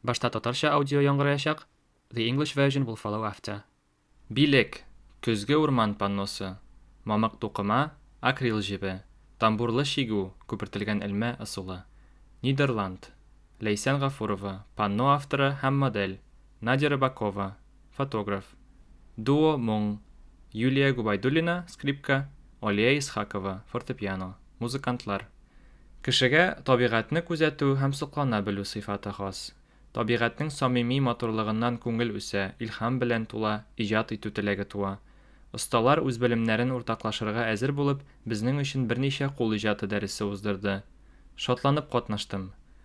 Башта татарча аудио яңгыраячак, the English version will follow after. Билек, көзге урман панносы, мамык тукыма, акрил җебе, тамбурлы чигү, күпертелгән элмә ысулы. Нидерланд. Ләйсән Гафурова, панно авторы һәм модель, Надя Рыбакова, фотограф, Дуо моң, Юлия Губайдуллина, скрипка, Алия Исхакова, фортепиано, музыкантлар. Кешегә табигатьне күзәтү һәм соклана белү сыйфаты хас. Табигатьнең самими матурлыгыннан күңел үсә, илһам белән тула, иҗат итү теләге туа. Осталар, үз белемнәрен уртаклашырга әзер булып, безнең өчен берничә кул иҗаты дәресе уздырды. Шатланып катнаштым.